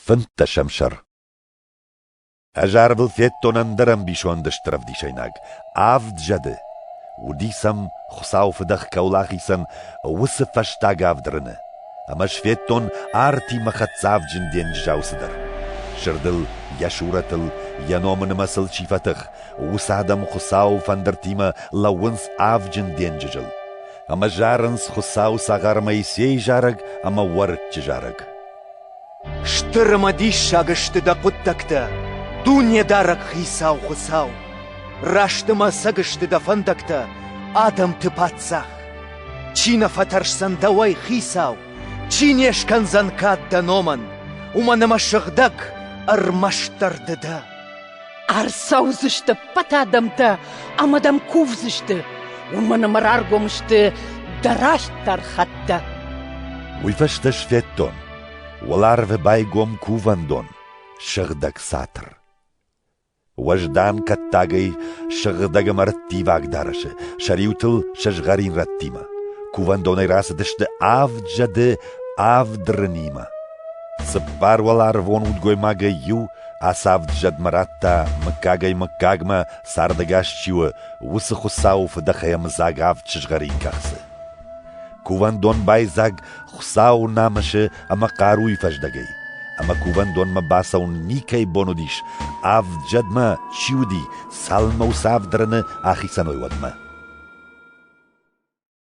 Фынддӕсӕм сӕр Ӕз арвыл федтон ӕндӕр ӕмбисонды стыр ӕвдисӕйнаг — авд зӕды. Уыдис ӕм, Хуыцау фыдӕх кӕуыл ахицӕн, уыцы фӕстаг авд рыны. Ӕмӕ сфедтон артимӕ хӕддзӕвджын денджызау цыдӕр. Сырдыл, йӕ сурӕтыл, йӕ номы нымӕцыл чи фӕтых, уыцы адӕм Хуыцауы фӕндыртимӕ лӕууынц авджын денджызыл. Ӕмӕ зарынц Хуыцауы цагъар Моисейы зарӕг ӕмӕ уӕрыччы зарӕг. Стыр ӕмӕ диссаг сты дӕ хъуыддӕгтӕ, Дунедарӕг Хицау Хуыцау! Раст ӕмӕ ӕцӕг сты дӕ фӕндӕгтӕ, адӕмты паддзах! Чи нӕ фӕтӕрсдзӕн дӕуӕй, Хицау, чи не скӕндзӕн кад дӕ номӕн, уымӕн ӕмӕ сыгъдӕг, ӕрмӕстдӕр ды дӕ! Ӕрцӕудзысты ӕппӕт адӕмтӕ ӕмӕ дӕм кувдзысты, уымӕн ӕмӕ раргом сты дӕ растдӕр хӕттӕ. Уый фӕстӕ сфӕддон, уӕларвы байгом кувӕндон, сыгъдӕг цатыр. Уӕздан кӕттагӕй сыгъдӕг ӕмӕ рттиваг дарӕсы сӕ риутыл сӕ згъӕрин рӕттимӕ. Кувӕндонӕй рацыдысты авд зӕды авд рынимӕ. Цыппар уӕларвон удгоймагӕй иу Ацавд зӕдмӕ радта, мыггагӕй-мыггагмӕ цардӕгас чи у, уыцы Хуыцауы фыдӕхӕй ӕмыдзаг авд сызгъӕрин кӕхцы. Кувӕндон байдзаг Хуыцауы намысы ӕмӕ хъаруйы фӕздӕгӕй, ӕмӕ кувӕндонмӕ бацӕуын никӕй бон уыдис, авд зӕдмӕ чи уыди, цалынмӕ уыцы авд рыны ахицӕн уой, уӕдмӕ.